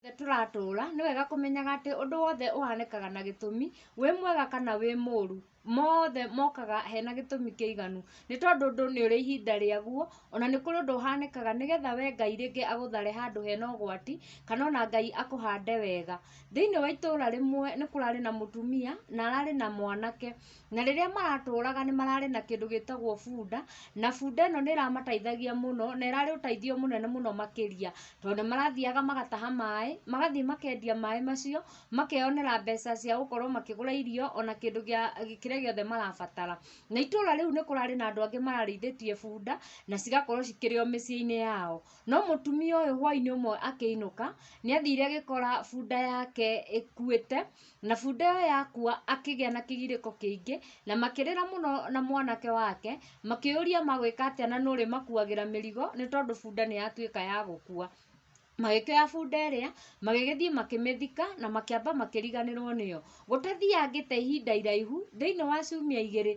wothe tũratũũra, nĩ wega kũmenyaga atĩ ũndũ wothe ũhanĩkaga na gĩtũmi, wĩ mwega kana wĩ mũũru, mothe mokaga hena gĩtũmi kĩiganu. Nĩ tondũ ũndũ nĩ ũrĩ ihinda rĩaguo, ona nĩ kũrĩ ũndũ ũhanĩkaga nĩgetha we Ngai rĩngĩ agũthare handũ hena ũgwati, kana ona Ngai akũhande wega. Thĩiniĩ wa itũũra rĩmwe nĩ kũrarĩ na mũtumia, na ararĩ na mwanake. Na rĩrĩa maratũraga nĩ mararĩ na kĩndũ gĩtagwo bunda, na bunda ĩno nĩ ĩramateithagia mũno, na ĩrarĩ ũteithio mũnene mũno makĩria, tondũ nĩ marathiaga magataha maĩ, magathiĩ makendia maĩ macio, makeyonera mbeca cia gũkorwo makĩgũra irio, ona kĩndũ gĩa kĩrĩa gĩothe marabatara. Na itũũra rĩu nĩ kũrarĩ na andũ angĩ mararĩithĩtie bunda, na cigakorwo cikĩrĩ o mĩciĩ-inĩ yao. No mũtumia ũyũ hwaĩ-inĩ ũmwe akĩinũka, nĩ athire agĩkora bunda yake ĩkuĩte, Na bunda ĩyo yakua akĩgĩa na kĩgirĩko kĩingĩ, na makĩrĩra mũno na mwanake wake, makĩũria magwĩka atĩa na nũũ ũrĩmakuagĩra mĩrigo, nĩ tondũ bunda nĩ yatuĩka ya gũkua. Magĩkĩoya bunda ĩrĩa, magĩgĩthiĩ makĩmĩthika, na makĩamba makĩriganĩrwo nĩyo. Gũtathiangĩte ihinda iraihu, thĩiniĩ wa ciumia igĩrĩ,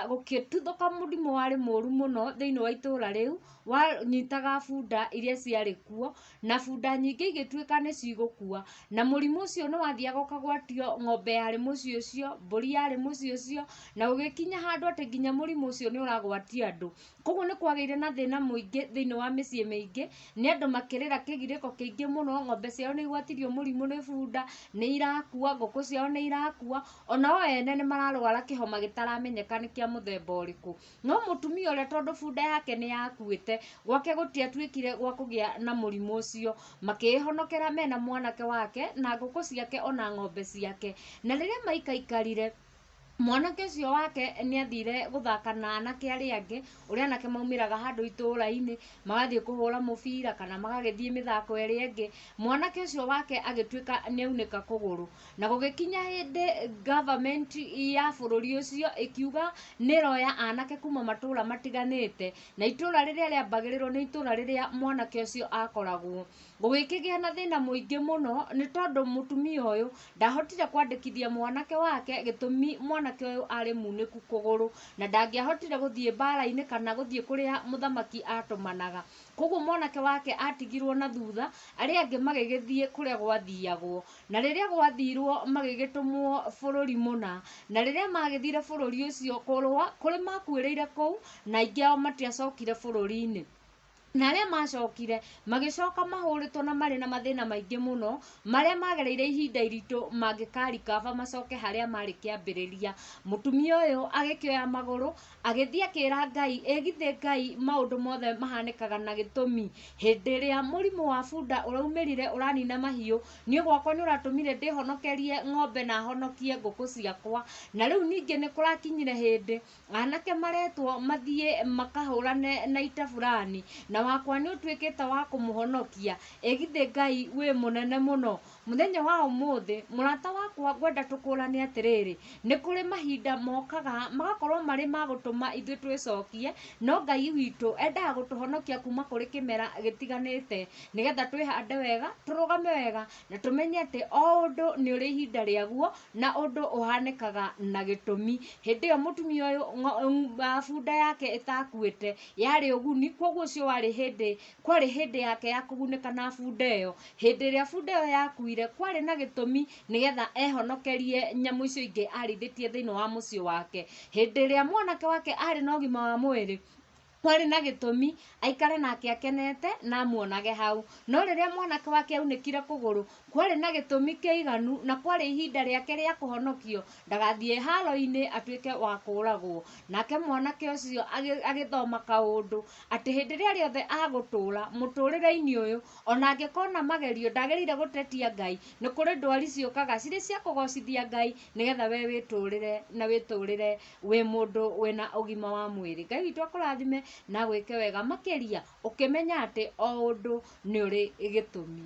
gũkĩtuthũka mũrimũ warĩ mũũru mũno thĩiniĩ wa itũũra rĩu, wanyitaga bunda iria ciarĩ kuo, na bunda nyingĩ igĩtuĩka nĩ cigũkua, na mũrimũ ũcio nĩ wathiaga ũkagwatio ng'ombe yarĩ mũciĩ ũcio, mbũri yarĩ mũciĩ ũcio, na ũgĩkinya handũ atĩ nginya mũrimũ ũcio nĩ ũragwatia andũ. Kũguo nĩ kwagĩire na thĩna mũingĩ thĩiniĩ wa mĩciĩ mĩingĩ, nĩ andũ makĩrĩra kĩgirĩko kĩingĩ mũno, ng'ombe ciao nĩ igwatirio mũrimũ nĩ bunda, nĩ irakua, ngũkũ ciao nĩ irakua, o nao ene nĩ mararwara kĩhoma gĩtaramenyeka nĩ kĩa mũthemba ũrĩkũ. No mũtumia ũrĩa tondũ bunda yake nĩ yakuĩte, gwake gũtiatuĩkire gwa kũgĩa na mũrimũ ũcio. Makĩĩhonokera me na mwanake wake, na ngũkũ ciake, o na ng'ombe ciake. Na rĩrĩa maikaikarire, mwanake ũcio wake nĩ athire gũthaka na anake arĩa angĩ, ũrĩa anake maumĩraga handũ itũũra-inĩ, magathiĩ kũhũra mũbira, kana magagĩthiĩ mĩthako ĩrĩa ĩngĩ. Mwanake ũcio wake agĩtuĩka nĩ aunĩka kũgũrũ. Na gũgĩkinya hĩndĩ government ya bũrũri ũcio ĩkiuga nĩ ĩroya anake kuma matũra matiganĩte, na itũra rĩrĩa rĩambagĩrĩrwo nĩ itũra rĩrĩa mwanake ũcio akoragwo. Gũgĩkĩgĩa na thĩna mũingĩ mũno nĩ tondũ mũtumia ũyũ ndahotire kwandĩkithia mwanake wake gĩtũmi mwanake ũyũ arĩ munĩku kũgũrũ, na ndangĩahotire gũthiĩ mbara-inĩ kana gũthiĩ kũrĩa mũthamaki atũmanaga. Koguo mwanake wake atigirwo na thutha, arĩa angĩ magĩgĩthiĩ kũrĩa gwathiagwo. Na rĩrĩa gwathiirwo magĩgĩtũmwo bũrũri mũna. Na rĩrĩa maagĩthiire bũrũri ũcio kũrũa, kũrĩ maakuĩrĩire kũu, na aingĩ ao matiacokire bũrũri-inĩ. Na arĩa maacokire, magĩcoka mahũrĩtwo na marĩ na mathĩna maingĩ mũno, marĩa maagereire ihinda iritũ mangĩkarikaba macoke harĩa maarĩ kĩambĩrĩria. Mũtumia ũyũ agĩkĩoya magũrũ, Agĩthiĩ akĩĩra Ngai, Ĩ githĩ Ngai maũndũ mothe mahanĩkaga na gĩtũmi? Hĩndĩ ĩrĩa mũrimũ wa bunda ũraumĩrire ũranina mahiũ, niĩ gwakwa nĩ ũratũmire ndĩhonokerie ng'ombe na honokie ngũkũ ciakwa. Na rĩu ningĩ nĩ kũrakinyire hĩndĩ anake maretwo mathiĩ makahũrane na ita burani, na wakwa nĩ ũtuĩkĩte wa kũmũhonokia. Ĩ githĩ Ngai wĩ mũnene mũno Mũthenya wa ũmũthĩ, mũrata wakwa ngwenda tũkũrane atĩrĩrĩ, nĩ kũrĩ mahinda mokaga magakorwo marĩ ma gũtũma ithuĩ twĩcokie, no Ngai witũ endaga gũtũhonokia kuma kũrĩ kĩmera gĩtiganĩte, nĩgetha twĩhande wega, tũrũgame wega, na tũmenye atĩ o ũndũ nĩ ũrĩ ihinda rĩaguo, na ũndũ ũhanĩkaga na gĩtũmi. Hĩndĩ ĩyo mũtumia ũyũ bunda yake ĩtakuĩte yarĩ ũguni, koguo ũcio warĩ hĩndĩ kwarĩ hĩndĩ yake ya kũgunĩka na bunda ĩyo. Hĩndĩ ĩrĩa bunda ĩyo yakuire, kwarĩ na gĩtũmi nĩgetha ehonokerie nyamũ icio ingĩ arĩithĩtie thĩinĩ wa mũciĩ wake. Hĩndĩ ĩrĩa mwanake wake arĩ na ũgima wa mwĩrĩ, kwarĩ na gĩtũmi aikare nake akenete na amuonage hau. No rĩrĩa mwanake wake aunĩkire kũgũrũ, Kwarĩ na gĩtũmi kĩiganu, na kwarĩ ihinda rĩake rĩa kũhonokio, ndagathiĩ haaro-inĩ atuĩke wa kũũragwo. Nake mwanake ũcio agĩthoma kaũndũ, atĩ hĩndĩ ĩrĩa rĩothe agũtũũra mũtũrĩre-inĩ ũyũ, o na angĩkona magerio, ndagĩrĩire gũtetia Ngai, nĩ kũrĩ ndwari ciũkaga cirĩ cia kũgocithia Ngai, nĩgetha we wĩtũrĩre na wĩtũrĩre wĩ mũndũ wĩ na ũgima wa mwĩrĩ. Ngai witũ akũrathime na agwĩke wega makĩria, ũkĩmenya atĩ o ũndũ nĩ ũrĩ gĩtũmi.